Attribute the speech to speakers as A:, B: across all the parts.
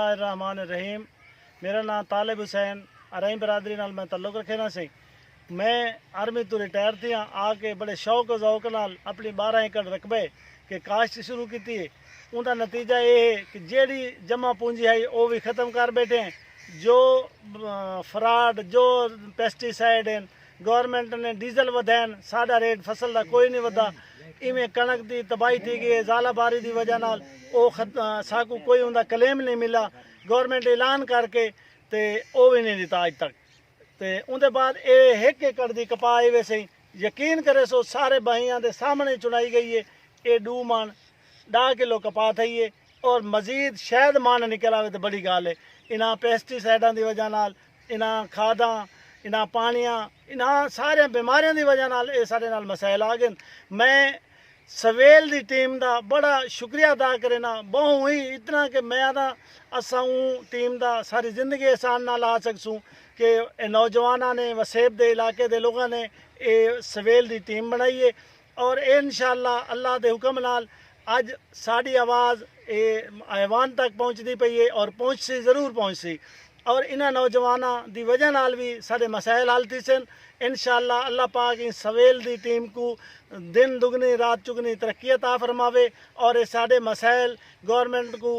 A: اللہ الرحمن الرحیم میرا ناں طالب حسین ارائیں برادری نال میں تعلق رکھینداں سے میں آرمی توں ریٹائر تھیاں آ کے بڑے شوق و ذوق نال اپنی بارہ ایکڑ رقبے کے کاشت شروع کیتی ہے اوندا نتیجہ اے ہے کہ جیڑھی جمع پونجی ہئی او وی ختم کر بیٹھے ہیں جو فراڈ جو پیسٹی سائیڈ ہن گورنمنٹ نے ڈیزل ودھین ساڈا ریٹ فصل دا کوئی نی ودھا ایویں کنڑک دی تباہی تھی گئی ہے زالہ باری دی وجہ نال او ساکوں کوئی اوندا کلیم نی ملا گورنمنٹ اعلان کر کے تے او وی نی ڈتا اج تک تے اوندے بعد اے ہک ایکڑ دی کپاہ ایویں سہی یقین کریسو سارے بھائیاں دے سامنڑے چنڑائی گئی ہے اے ڈو من ڈا کلو کپاہ تھئی ہے اور مزید شاید من نکل آوے تے بڑی گالھ ہے انہاں پیسٹی سائیڈاں دی وجہ نال انہاں کھاداں، انہاں پانڑیاں، انہاں ساریاں بیماریاں دی وجہ نال اے ساڈے نال مسائل آ گن۔ میں سویل دی ٹیم دا بڑا شکریہ ادا کرینا، بہوں ہی اتنا کہ میں آہداں اساں اوں ٹیم دا ساری زندگی احسان نہ لا سگسوں کہ اے نوجواناں نے وسیب دے علاقے دے لوگاں نے اے سویل دی ٹیم بنڑائی اے۔ اور اے انشاء اللہ اللہ دے حکم نال اج ساڈی آواز اے ایوان تک پہنچدی پئی اے اور پہنچسی ضرور پہنچسی اور انہاں نوجواناں دی وجہ نال وی ساڈے مسائل حل تھیسن انشاء اللہ اللہ پاک ایں سویل دی ٹیم کوں دن دگنی رات چگنی ترقی عطا فرماوے اور اے ساڈے مسائل گورنمنٹ کوں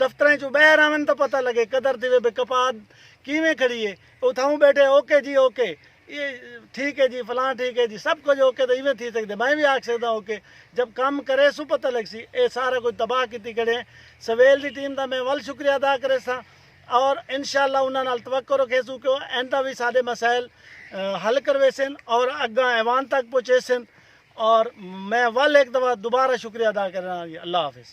A: دفتراں اچوں باہر آون تاں پتہ لگے قدر تھیوے بھئی کپاد کیویں کھڑی اے اتھاؤں بیٹھے اوکے جی اوکے ٹھیک اے جی فلاں ٹھیک اے جی سب کجھ اوکے تاں ایویں تھی سگدے میں وی آکھ سگداں اوکے جب کم کریسوں پتہ لگسی اے سارا کجھ تباہ کیتی کھڑے ہیں سویل دی ٹیم دا میں ول شکریہ ادا کریساں اور انشاءاللہ انہاں نال توقع رکھیسوں کہ او ایندا وی ساڈے مسائل حل کرویسن اور اگاں ایوان تک پہنچیسن اور میں ول ہک دفعہ دوبارہ شکریہ ادا کرینا جی اللہ حافظ۔